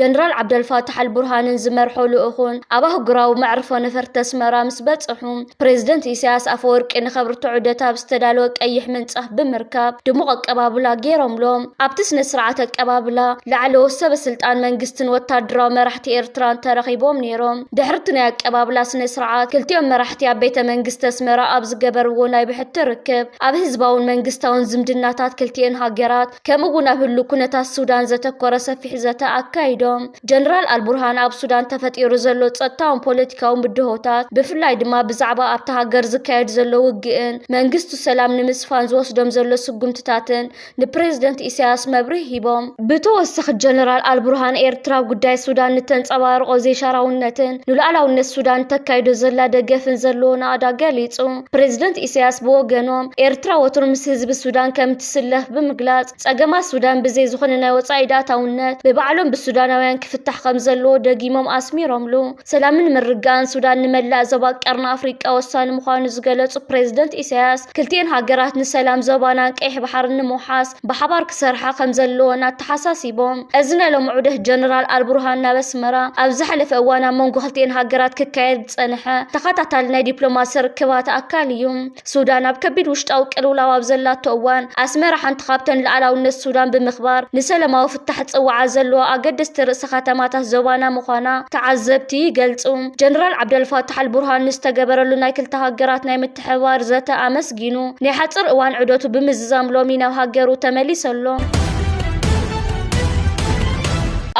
ጀነራል ዓብደልፋታሕ ኣልቡርሃንን ዝመርሖ ልኡኹን ኣብ ኣህጉራዊ መዕርፎ ነፈርቲ ኣስመራ ምስ በጽሑ፣ ፕረዚደንት ኢሳያስ ኣፈወርቂ ንኸብርቶ ዑደት ኣብ ዝተዳለወ ቀይሕ ምንጻፍ ብምርካብ ድሙቕ ኣቀባብላ ገይሮምሎም። ኣብቲ ስነ-ስርዓት ኣቀባብላ፣ ላዕለዎት ሰበ-ስልጣን መንግስትን ወተሃደራዊ መራሕቲ ኤርትራን ተረኺቦም ነይሮም። ድሕሪ'ቲ ናይ ኣቀባብላ ስነ-ስርዓት፣ ክልቲኦም መራሕቲ ኣብ ቤተ መንግስቲ ኣስመራ ኣብ ዝገበርዎ ናይ ብሕቲ ርክብ፣ ኣብ ህዝባውን መንግስታውን ዝምድናታት ክልቲኤን ሃገራት፣ ከምኡ እውን ኣብ ህሉ ኩነታት ሱዳን ዘተኮረ ሰፊሕ ዘተ ኣካይዶም። ጀነራል ኣልቡርሃን ኣብ ሱዳን ተፈጢሩ ዘሎ ጸጥታውን ፖለቲካውን ብድሆታት ብፍላይ ድማ ብዛዕባ ኣብታ ሃገር ዝካየድ ዘሎ ውግእን መንግስቱ ሰላም ንምስፋን ዝወስዶም ዘሎ ስጉምትታትን ንፕሬዝደንት ኢሳያስ መብርሂ ሂቦም። ብተወሳኺ ጀነራል ኣልቡርሃን ኤርትራ ኣብ ጉዳይ ሱዳን ንተንጸባርቖ ዘይሻራውነትን ንሉኣላውነት ሱዳን ንተካይዶ ዘላ ደገፍን ዘለዎ ናእዳ ገሊጹ። ፕሬዝደንት ኢሳያስ ብወገኖም ኤርትራ ወትሩ ምስ ህዝቢ ሱዳን ከም ከምዝስለፍ ብምግላጽ፣ ጸገማት ሱዳን ብዘይ ዝኾነ ናይ ወጻኢ ኢድኣታውነት ብባዕሎም ብሱዳናውያን ክፍታሕ ከምዘለዎ ደጊሞም ኣስሚሮምሉ። ሰላምን ምርግጋእን ሱዳን ንመላእ ዞባ ቀርኒ ኣፍሪቃ ወሳኒ ምዃኑ ዝገለጹ ፕሬዝደንት ኢሳያስ፣ ክልቲኤን ሃገራት ንሰላም ዞባናን ቀይሕ ባሕርን ንምውሓስ ብሓባር ክሰርሓ ከምዘለወን ኣተሓሳሲቦም። እዚ ናይ ሎሚ ዑደት ጀነራል ኣልቡርሃን ናብ ኣስመራ፣ ኣብ ዝሓለፈ እዋን ኣብ መንጎ ክልቲኤን ሃገራት ክካየድ ዝጸንሐ ተኸታታሊ ናይ ዲፕሎማሲ ርክባት ኣካል እዩ። ሱዳን ኣብ ከቢድ ውሽጣዊ ቅልውላው ኣብ ዘላቶ እዋን፣ ኣስመራ ሓንቲ ካብተን ልኣላውነት ሱዳን ብምኽባር ንሰለማዊ ፍታሕ ዝጽውዓ ዘለዋ ኣገደስቲ ርእሰ ከተማታት ዞባና ምዃና ተዓዘብቲ ይገልጹ። ጀነራል ዓብደልፋታሕ ኣልቡርሃን ንዝተገበረሉ ናይ ክልተ ሃገራት ናይ ምትሕብባር ዘተ ኣመስጊኑ፣ ናይ ሓጺር እዋን ዑደቱ ብምዝዛም ሎሚ ናብ ሃገሩ ተመሊሱ ኣሎ።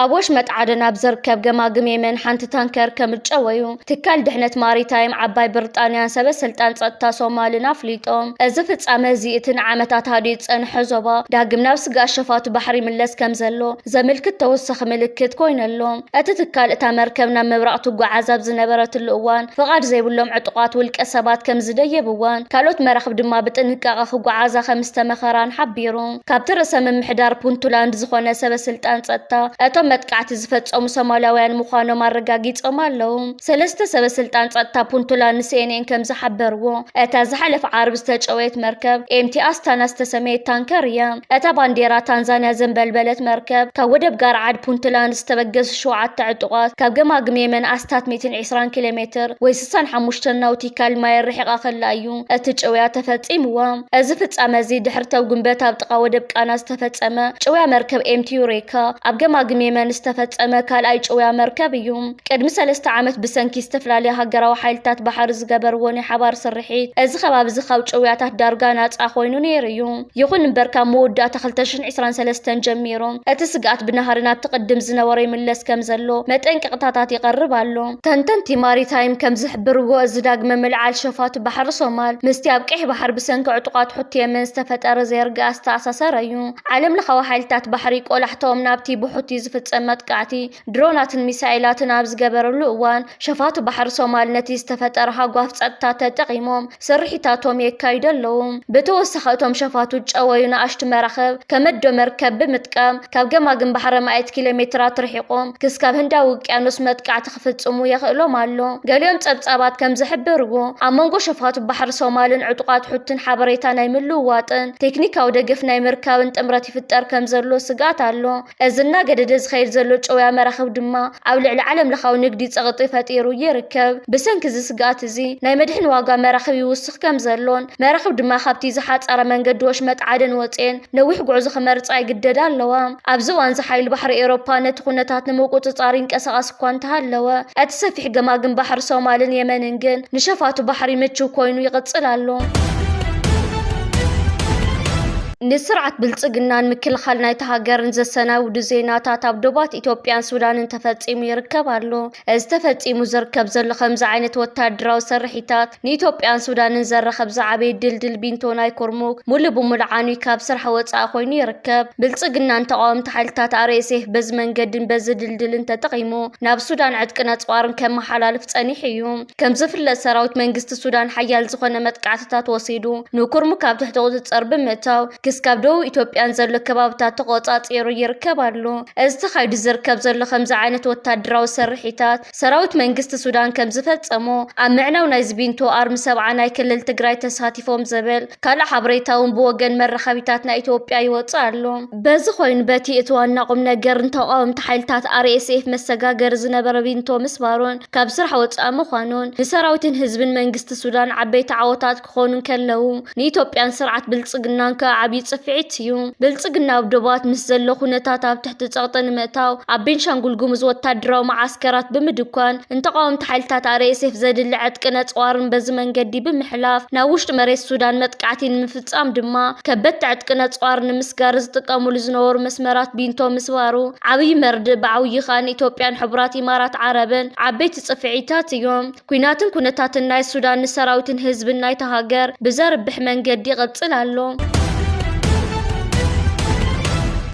ኣብ ወሽመጥ ዓደን ኣብ ዝርከብ ገማግም የመን ሓንቲ ታንከር ከምጨወዩ ትካል ድሕነት ማሪታይም ዓባይ ብርጣንያን ሰበ ስልጣን ጸጥታ ሶማልን ኣፍሊጦም። እዚ ፍጻመ እዚ እቲ ንዓመታት ሃዲኡ ዝጸንሐ ዞባ ዳግም ናብ ስግኣት ሸፋቱ ባሕሪ ይምለስ ከምዘሎ ዘምልክት ተወሳኺ ምልክት ኮይኑ ኣሎ። እቲ ትካል እታ መርከብ ናብ ምብራቕ ትጓዓዝ ኣብ ዝነበረትሉ እዋን ፍቓድ ዘይብሎም ዕጡቓት ውልቀሰባት ከምዝደየብዋን ካልኦት መራኽብ ድማ ብጥንቃቐ ክጓዓዛ ከምዝተመኸራን ሓቢሩ። ካብቲ ርእሰ ምምሕዳር ፑንቱላንድ ዝኾነ ሰበ ስልጣን ጸጥታ እቶም መጥቃዕቲ ዝፈጸሙ ሶማላውያን ምዃኖም ኣረጋጊጾም ኣለዉ። ሰለስተ ሰበ ስልጣን ጸጥታ ፑንቱላንድ ንሲኤንኤን ከም ዝሓበርዎ፣ እታ ዝሓለፈ ዓርቢ ዝተጨወየት መርከብ ኤምቲ ኣስታና ዝተሰመየት ታንከር እያ። እታ ባንዴራ ታንዛንያ ዘንበልበለት መርከብ፣ ካብ ወደብ ጋርዓድ ፑንቱላንድ ዝተበገሱ ሸውዓተ ዕጡቓት ካብ ገማግም የመን ኣስታት ሚእትን ዒስራን ኪሎሜትር ወይ ስሳን ሓሙሽተን ናውቲ ካል ማየር ርሒቓ ከላ እዩ እቲ ጭውያ ተፈጺምዋ። እዚ ፍጻመ እዚ ድሕሪ ተው ግንበት ኣብ ጥቓ ወደብ ቃና ዝተፈጸመ ጭውያ መርከብ ኤምቲ ዩሬካ ኣብ ገማግም የመን ዝተፈጸመ ካልኣይ ጭውያ መርከብ እዩ። ቅድሚ ሰለስተ ዓመት ብሰንኪ ዝተፈላለያ ሃገራዊ ሓይልታት ባሕሪ ዝገበርዎ ናይ ሓባር ስርሒት እዚ ከባቢ እዚ ካብ ጭውያታት ዳርጋ ናጻ ኮይኑ ነይሩ እዩ። ይኹን እምበር ካብ መወዳእታ ክልተ ሽሕን ዕስራን ሰለስተን ጀሚሩ እቲ ስግኣት ብናህሪ ናብቲ ቅድም ዝነበሮ ይምለስ ከምዘሎ መጠንቀቕታታት ይቐርብ ኣሎ። ተንተንቲ ማሪታይም ከምዝሕብርዎ እዚ ዳግመ ምልዓል ሸፋቱ ባሕሪ ሶማል ምስቲ ኣብ ቀይሕ ባሕሪ ብሰንኪ ዕጡቓት ሑቲ የመን ዝተፈጠረ ዘይርግኣ ዝተኣሳሰረ'ዩ። ዓለምለኻዊ ሓይልታት ባሕሪ ቆላሕታኦም ናብቲ ብሑቲ ዝፍጸም መጥቃዕቲ ድሮናትን ሚሳኤላትን ኣብ ዝገበረሉ እዋን፣ ሸፋቱ ባሕሪ ሶማል ነቲ ዝተፈጠረ ሃጓፍ ጸጥታ ተጠቒሞም ስርሒታቶም የካይዱ ኣለዉ። ብተወሳኺ እቶም ሸፋቱ ዝጨወዩ ንኣሽቱ መራኽብ፣ ከመዶ መርከብ፣ ብምጥቃም ካብ ገማግም ባሕሪ ኣማኢት ኪሎሜትራት ርሒቖም ክስካብ ህንዳዊ ውቅያኖስ መጥቃዕቲ ክፍጽሙ የኽእሎም ኣሎ። ገሊኦም ጸብጻባት ከም ዝሕብርዎ፣ ኣብ መንጎ ሸፋቱ ባሕሪ ሶማልን ዕጡቓት ሑቲን ሓበሬታ ናይ ምልውዋጥን ቴክኒካዊ ደገፍ ናይ ምርካብን ጥምረት ይፍጠር ከም ዘሎ ስግኣት ኣሎ። እዚ እናገደደ ዝኸይድ ዘሎ ጨውያ መራኽብ ድማ ኣብ ልዕሊ ዓለምለኻዊ ንግዲ ጸቕጢ ፈጢሩ ይርከብ። ብሰንኪ እዚ ስግኣት እዚ፣ ናይ መድሕን ዋጋ መራኽብ ይውስኽ ከም ዘሎን፣ መራኽብ ድማ ካብቲ ዝሓጸረ መንገዲ ወሽመጥ ዓደን ወጺኤን ነዊሕ ጉዕዞ ክመርጻ ይግደዳ ኣለዋ። ኣብዚ እዋንዚ ሓይሊ ባሕሪ ኤውሮፓ ነቲ ኩነታት ንምቁጽጻር ይንቀሳቐስ እኳ እንተሃለወ፣ እቲ ሰፊሕ ገማግም ባሕሪ ሶማልን የመንን ግን ንሸፋቱ ባሕሪ ምቹው ኮይኑ ይቕጽል ኣሎ። ንስርዓት ብልፅግናን ምክልኻል ናይታ ሃገርን ዘሰናብዱ ዜናታት ኣብ ዶባት ኢትዮጵያን ሱዳንን ተፈፂሙ ይርከብ ኣሎ። እዚ ተፈፂሙ ዝርከብ ዘሎ ከምዚ ዓይነት ወታደራዊ ስርሒታት ንኢትዮጵያን ሱዳንን ዘራኽብ ዝዓበየ ድልድል ቢንቶ ናይ ኩርሙክ ሙሉእ ብሙሉእ ዓንዩ ካብ ስራሕ ወፃኢ ኮይኑ ይርከብ። ብልፅግናን ተቓወምቲ ሓይልታት RSF በዚ መንገድን በዚ ድልድልን ተጠቒሙ ናብ ሱዳን ዕጥቅን ኣፅዋርን ከመሓላልፍ ፀኒሑ እዩ። ከምዝፍለጥ ሰራዊት መንግስቲ ሱዳን ሓያል ዝኾነ መጥቃዕትታት ወሲዱ ንኩርሙክ ኣብ ትሕቲ ቁፅፅር ብምእታው ክስካብ ደቡብ ኢትዮጵያ ንዘሎ ከባብታት ተቖፃፂሩ ይርከብ ኣሎ። እዚ ተኻይዱ ዝርከብ ዘሎ ከምዚ ዓይነት ወታደራዊ ስርሒታት ሰራዊት መንግስቲ ሱዳን ከምዝፈፀሞ ኣብ ምዕናው ናይ ዝቢንቶ ኣርሚ ሰብዓ ናይ ክልል ትግራይ ተሳቲፎም ዝብል ካልእ ሓበሬታ እውን ብወገን መራኸቢታት ናይ ኢትዮጵያ ይወፅእ ኣሎ። በዚ ኮይኑ በቲ እቲ ዋና ቁምነገር ንተቓወምቲ ሓይልታት RSF መሰጋገሪ ዝነበረ ቢንቶ ምስባሩን፣ ካብ ስራሕ ወፃኢ ምዃኑን ንሰራዊትን ህዝብን መንግስቲ ሱዳን ዓበይቲ ዓወታት ክኾኑ እንከለዉ ንኢትዮጵያን ስርዓት ብልፅግናን ከዓ ዓብዪ ፅፍዒት እዩ። ብልፅግና ኣብ ዶባት ምስ ዘሎ ኩነታት ኣብ ትሕቲ ፀቕጢ ንምእታው ኣብ ቤንሻንጉል ጉሙዝ ወታደራዊ መዓስከራት ብምድኳን ንተቓወምቲ ሓይልታት RSF ዘድሊ ዕጥቅን ኣፅዋርን በዚ መንገዲ ብምሕላፍ ናብ ውሽጢ መሬት ሱዳን መጥቃዕቲ ንምፍፃም ብምፍጻም ድማ ከበድቲ ዕጥቂ ነጽዋር ንምስጋር ዝጥቀምሉ ዝነበሩ መስመራት ቢንቶ ምስባሩ ዓብይ መርድእ ብዓውዪ ከኣ ንኢትዮጵያን ሕቡራት ኢማራት ዓረብን ዓበይቲ ጽፍዒታት እዮም። ኲናትን ኩነታትን ናይ ሱዳን ንሰራዊትን ህዝብን ናይታ ሃገር ብዘርብሕ መንገዲ ይቕጽል ኣሎ።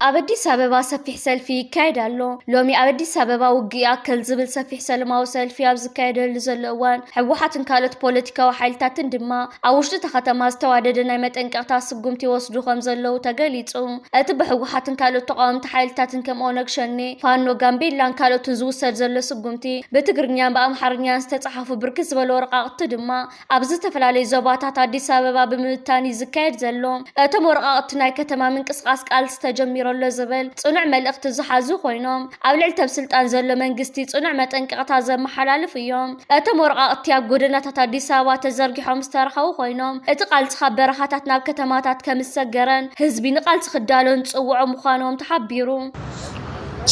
ኣብ ኣዲስ ኣበባ ሰፊሕ ሰልፊ ይካየድ ኣሎ። ሎሚ ኣብ ኣዲስ ኣበባ ውግእ ይኣክል ዝብል ሰፊሕ ሰለማዊ ሰልፊ ኣብ ዝካየደሉ ዘሎ እዋን ህወሓትን ካልኦት ፖለቲካዊ ሓይልታትን ድማ ኣብ ውሽጢ እታ ከተማ ዝተዋደደ ናይ መጠንቀቕታ ስጉምቲ ይወስዱ ከምዘለዉ ተገሊፁ። እቲ ብህወሓትን ካልኦት ተቓወምቲ ሓይልታትን ከም ኦነግ ሸኔ፣ ፋኖ፣ ጋምቤላን ካልኦትን ዝውሰድ ዘሎ ስጉምቲ ብትግርኛን ብኣምሓርኛን ዝተፅሓፉ ብርክት ዝበሉ ወረቓቕቲ ድማ ኣብ ዝተፈላለዩ ዞባታት ኣዲስ ኣበባ ብምብታን እዩ ዝካየድ ዘሎ። እቶም ወረቓቕቲ ናይ ከተማ ምንቅስቓስ ቃልሲ ተጀሚሩ ኣሎ ዝብል ፅኑዕ መልእኽቲ ዝሓዙ ኮይኖም ኣብ ልዕሊ ተብ ስልጣን ዘሎ መንግስቲ ጽኑዕ መጠንቀቕታ ዘመሓላልፉ እዮም። እቶም ወረቓቕቲ ኣብ ጎደናታት ኣዲስ ኣበባ ተዘርጊሖም ዝተረኸቡ ኾይኖም፣ እቲ ቃልሲ ካብ በረኻታት ናብ ከተማታት ከምዝሰገረን ህዝቢ ንቓልሲ ክዳሎ ንጽውዖ ምዃኖም ተሓቢሩ።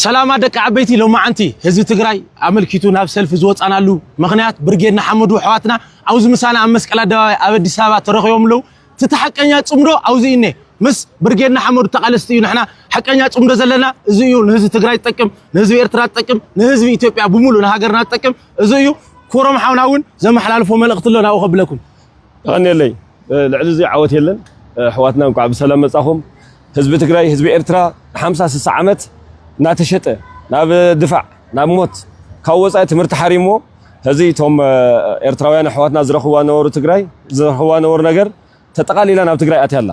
ሰላማ ደቂ ዓበይቲ ሎማዓንቲ ህዝቢ ትግራይ ኣመልኪቱ ናብ ሰልፊ ዝወፃናሉ ምኽንያት ብርጌድ ንሓመዱ ኣሕዋትና ኣብዚ ምሳና ኣብ መስቀል ኣደባባይ ኣብ ኣዲስ ኣበባ ተረኺቦም ኣለዉ ትቲ ሓቀኛ ፅምዶ ኣውዚ እዩ እኔ ምስ ብርጌድ ንሓመዱ ተቃለስቲ እዩ ንሕና ሓቀኛ ፅምዶ ዘለና እዚ እዩ ንህዝቢ ትግራይ ዝጠቅም ንህዝቢ ኤርትራ ዝጠቅም ንህዝቢ ኢትዮጵያ ብሙሉእ ንሃገርና ዝጠቅም እዚ እዩ ኩሮም ሓውና እውን ዘመሓላልፎ መልእኽቲ ኣሎ ናብኡ ከብለኩም ተቀኔለይ ልዕሊ እዚ ዓወት የለን ኣሕዋትና እንኳዕ ብሰላም መጻኹም ህዝቢ ትግራይ ህዝቢ ኤርትራ ንሓምሳ ስሳ ዓመት እናተሸጠ ናብ ድፋዕ ናብ ሞት ካብ ወፃኢ ትምህርቲ ሓሪምዎ ሕዚ እቶም ኤርትራውያን ኣሕዋትና ዝረኽብዋ ነበሩ ትግራይ ዝረኽብዋ ነበሩ ነገር ተጠቓሊላ ናብ ትግራይ ኣትያ ኣላ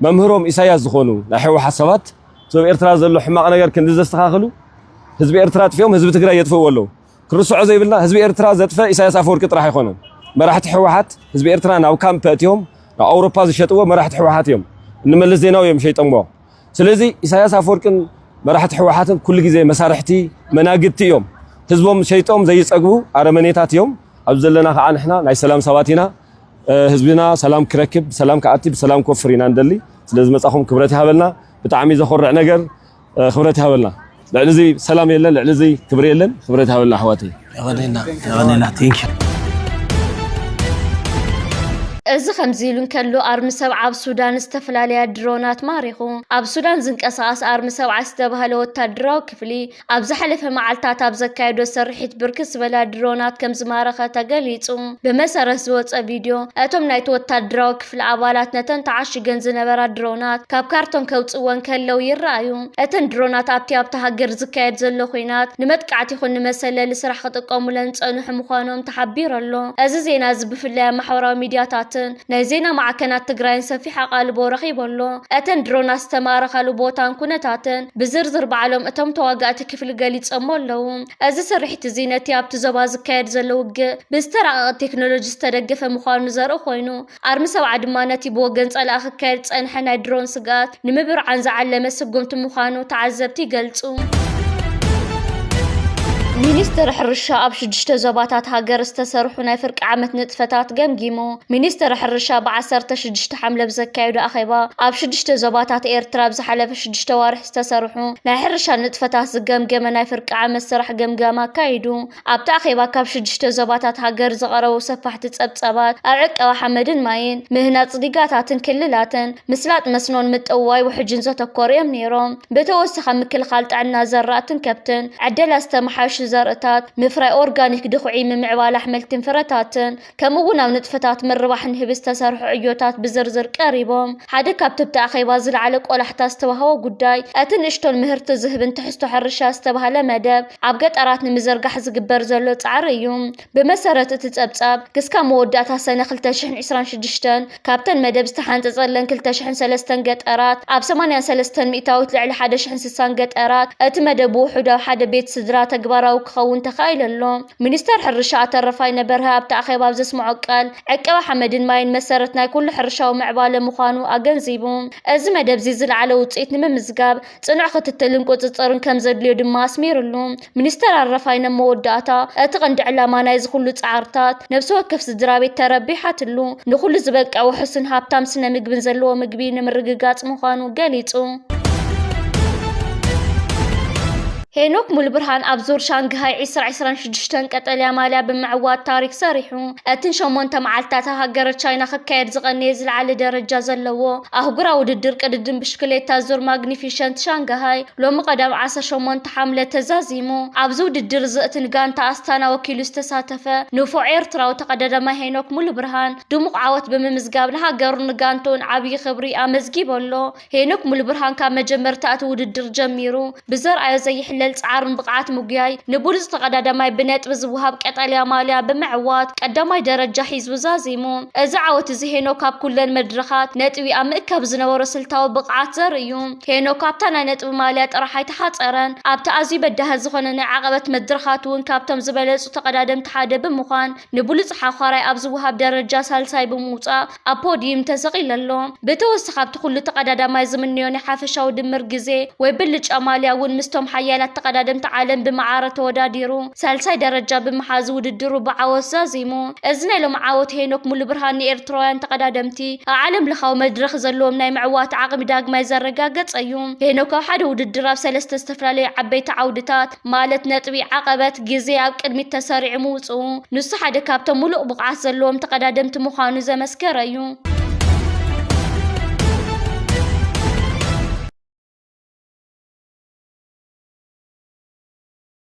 መምህሮም ኢሳያስ ዝኾኑ ናይ ሕወሓት ሰባት እቶም ኤርትራ ዘሎ ሕማቕ ነገር ክንዲ ዘስተኻኽሉ ህዝቢ ኤርትራ ኣጥፊኦም ህዝቢ ትግራይ የጥፍእዎ ኣለዉ ክንርስዖ ዘይብልና ህዝቢ ኤርትራ ዘጥፈ ኢሳያስ ኣፈወርቂ ጥራሕ ኣይኮነን መራሕቲ ህወሓት ህዝቢ ኤርትራ ናብ ካምፕ ኣእትዮም ናብ ኣውሮፓ ዝሸጥዎ መራሕቲ ህወሓት እዮም ንመለስ ዜናዊ እዮም ሸይጠሞ ስለዚ ኢሳያስ ኣፈወርቅን መራሕቲ ህወሓትን ኩሉ ግዜ መሳርሕቲ መናግድቲ እዮም ህዝቦም ሸይጦም ዘይጸግቡ ኣረመኔታት እዮም ኣብ ዘለና ከዓ ንሕና ናይ ሰላም ሰባት ኢና ህዝብና ሰላም ክረክብ ብሰላም ክኣቲ ብሰላም ክወፍር ኢና ንደሊ ስለ ዝመጻኹም ክብረት ይሃበልና ብጣዕሚ ዘኾርዕ ነገር ክብረት ይሃበልና ልዕሊ እዚ ሰላም የለን ልዕሊ እዚ ክብሪ የለን ክብረት ይሃበልና ኣሕዋተይ የቀኔልና የቀኔልና ቴንክ እዚ ከምዚ ኢሉ እንከሎ ኣርሚ ሰብዓ ኣብ ሱዳን ዝተፈላለያ ድሮናት ማሪኹ። ኣብ ሱዳን ዝንቀሳቐስ ኣርሚ ሰብዓ ዝተባህለ ወታደራዊ ክፍሊ ኣብ ዝሓለፈ መዓልታት ኣብ ዘካየዶ ስርሒት ብርክት ዝበላ ድሮናት ከም ዝማረኸ ተገሊጹ። ብመሰረት ዝወፀ ቪድዮ እቶም ናይቲ ወታደራዊ ክፍሊ ኣባላት ነተን ተዓሽገን ዝነበራ ድሮናት ካብ ካርቶን ከውጽእወን ከለው ይረኣዩ። እተን ድሮናት ኣብቲ ኣብታ ሃገር ዝካየድ ዘሎ ኲናት ንመጥቃዕቲ ይኹን ንመሰለሊ ስራሕ ክጥቀሙለን ዝጸንሑ ምዃኖም ተሓቢሩ ኣሎ። እዚ ዜና እዚ ብፍላይ ኣብ ማሕበራዊ ሚድያታትን ናይ ዜና ማዕከናት ትግራይን ሰፊሕ ኣቓልቦ ረኺቡ ኣሎ። እተን ድሮናት ዝተማረኻሉ ቦታን ኩነታትን ብዝርዝር ባዕሎም እቶም ተዋጋእቲ ክፍሊ ገሊጾሞ ኣለው። እዚ ስርሒት እዚ ነቲ ኣብቲ ዞባ ዝካየድ ዘሎ ውግእ ብዝተራቐቐ ቴክኖሎጂ ዝተደገፈ ምዃኑ ዘርኢ ኮይኑ፣ ኣርሚ ሰብዓ ድማ ነቲ ብወገን ጸላኢ ክካየድ ዝጸንሐ ናይ ድሮን ስግኣት ንምብርዓን ዝዓለመ ስጉምቲ ምዃኑ ተዓዘብቲ ይገልጹ። ሚኒስትሪ ሕርሻ ኣብ ሽዱሽተ ዞባታት ሃገር ዝተሰርሑ ናይ ፍርቂ ዓመት ንጥፈታት ገምጊሙ። ሚኒስትሪ ሕርሻ ብ16 ሓምለ ብዘካየዶ ኣኼባ፣ ኣብ ሽዱሽተ ዞባታት ኤርትራ ኣብ ዝሓለፈ ሽዱሽተ ኣዋርሕ ዝተሰርሑ ናይ ሕርሻ ንጥፈታት ዝገምገመ ናይ ፍርቂ ዓመት ስራሕ ገምጋም ኣካይዱ። ኣብቲ ኣኼባ ካብ ሽዱሽተ ዞባታት ሃገር ዝቐረቡ ሰፋሕቲ ጸብጻባት ኣብ ዕቀባ ሓመድን ማይን፣ ምህናጽ ዲጋታትን ክልላትን፣ ምስላጥ መስኖን ምጥውዋይ ውሕጅን ዘተኮሩ እዮም ነይሮም። ብተወሳኺ ኣብ ምክልኻል ጥዕና ዘራእትን ከብትን፣ ዕደላ ዝተመሓየሹ ዘርእታት፣ ምፍራይ ኦርጋኒክ ድኹዒ፣ ምምዕባል ኣሕምልትን ፍረታትን፣ ከምኡ'ውን ኣብ ንጥፈታት ምርባሕ ንህቢ ዝተሰርሑ ዕዮታት ብዝርዝር ቀሪቦም። ሓደ ካብቲ ኣብቲ ኣኼባ ዝለዓለ ቆላሕታ ዝተዋህቦ ጉዳይ፣ እቲ ንእሽቶን ምህርቲ ዝህብን ትሕዝቶ ሕርሻ ዝተባህለ መደብ ኣብ ገጠራት ንምዝርጋሕ ዝግበር ዘሎ ጻዕሪ እዩ። ብመሰረት እቲ ጸብጻብ፣ ክስካብ መወዳእታ ሰነ ክልተ ሽሕን ዕስራን ሽዱሽተን፣ ካብተን መደብ ዝተሓንጸጸለን ክልተ ሽሕን ሰለስተን ገጠራት፣ ኣብ ሰማንያን ሰለስተን ሚእታዊት ልዕሊ ሓደ ሽሕን ስሳን ገጠራት፣ እቲ መደብ ብውሑዱ ኣብ ሓደ ቤት ስድራ ተግባራዊ ክኸውን ተኻኢሉ ኣሎ። ሚኒስተር ሕርሻ ኣቶ ረፋይነ በርሀ ኣብቲ ኣኼባ ኣብ ዘስመዖ ቃል፣ ዕቀባ ሓመድን ማይን መሰረት ናይ ኩሉ ሕርሻዊ ምዕባለ ምዃኑ ኣገንዚቡ። እዚ መደብ'ዚ ዝለዓለ ውጽኢት ንምምዝጋብ፣ ጽኑዕ ክትትልን ቁጽጽርን ከምዘድልዮ ድማ ኣስሚርሉ። ሚኒስተር ኣረፋይነ ኣብ መወዳእታ፣ እቲ ቀንዲ ዕላማ ናይዚ ኩሉ ጻዕርታት፣ ነብሲ ወከፍ ስድራቤት ተረቢሓትሉ፣ ንኹሉ ዝበቅዕ ውሑስን ሃብታም ስነ-ምግብን ዘለዎ ምግቢ ንምርግጋጽ ምዃኑ ገሊጹ። ሄኖክ ሙሉብርሃን ኣብ ዙር ሻንግሃይ ዕስራ ዕስራን ሽዱሽተን ቀጠልያ ማልያ ብምዕዋት ታሪክ ሰሪሑ። እቲ ንሸሞንተ መዓልትታት ኣብ ሃገረ ቻይና ክካየድ ዝቐነየ ዝለዓለ ደረጃ ዘለዎ ኣህጉራዊ ውድድር ቅድድም ብሽክሌታ ዙር ማግኒፊሸንት ሻንግሃይ፣ ሎሚ ቀዳም ዓሰርተ ሸሞንተ ሓምለ ተዛዚሙ ኣብዚ ውድድር እዚ'ቲ ንጋንታ ኣስታና ወኪሉ ዝተሳተፈ ንፉዕ ኤርትራዊ ተቐዳዳማይ ሄኖክ ሙሉብርሃን ድሙቕ ዓወት ብምምዝጋብ ንሃገሩን ንጋንትኡን ዓብዪ ክብሪ ኣመዝጊቡ ኣሎ። ሄኖክ ሙሉብርሃን ካብ መጀመርታ እቲ ውድድር ጀሚሩ ብዘርኣዮ ዘይሕለል ጻዕርን ብቕዓት ምጉያይ ንብሉጽ ተቐዳዳማይ ብነጥቢ ዝወሃብ ቀጠልያ ማልያ ብምዕዋት ቀዳማይ ደረጃ ሒዙ ዛዚሙ። እዚ ዓወት እዚ ሄኖክ ኣብ ኩለን መድረኻት ነጥቢ ኣብ ምእካብ ዝነበሮ ስልታዊ ብቕዓት ዘርኢ'ዩ። ሄኖክ ኣብታ ናይ ነጥቢ ማልያ ጥራሕ ኣይተሓፀረን። ኣብቲ ኣዝዩ በዳሂ ዝኾነ ናይ ዓቐበት መድረኻት እውን ካብቶም ዝበለፁ ተቐዳደምቲ ሓደ ብምዃን ንብሉፅ ሓዃራይ ኣብ ዝወሃብ ደረጃ ሳልሳይ ብምውፃእ ኣብ ፖድዩም ተሰቒሉ ኣሎ። ብተወሳኺ ኣብቲ ኩሉ ተቐዳዳማይ ዝምነዮ ናይ ሓፈሻዊ ድምር ግዜ ወይ ብልጫ ማልያ እውን ምስቶም ሓያላት ተቐዳደምቲ ዓለም ብማዕረ ተወዳዲሩ ሳልሳይ ደረጃ ብምሓዝ ውድድሩ ብዓወት ዛዚሙ። እዚ ናይ ሎሚ ዓወት ሄኖክ ሙሉብርሃን ንኤርትራውያን ተቐዳደምቲ ኣብ ዓለም ለኻዊ መድረኽ ዘለዎም ናይ ምዕዋት ዓቕሚ ዳግማይ ዘረጋገጸ እዩ። ሄኖክ ኣብ ሓደ ውድድር ኣብ ሰለስተ ዝተፈላለዩ ዓበይቲ ዓውድታት ማለት ነጥቢ፣ ዓቐበት፣ ግዜ ኣብ ቅድሚት ተሰሪዑ ምውጽኡ ንሱ ሓደ ካብቶም ሙሉእ ብቕዓት ዘለዎም ተቐዳደምቲ ምዃኑ ዘመስከረ እዩ።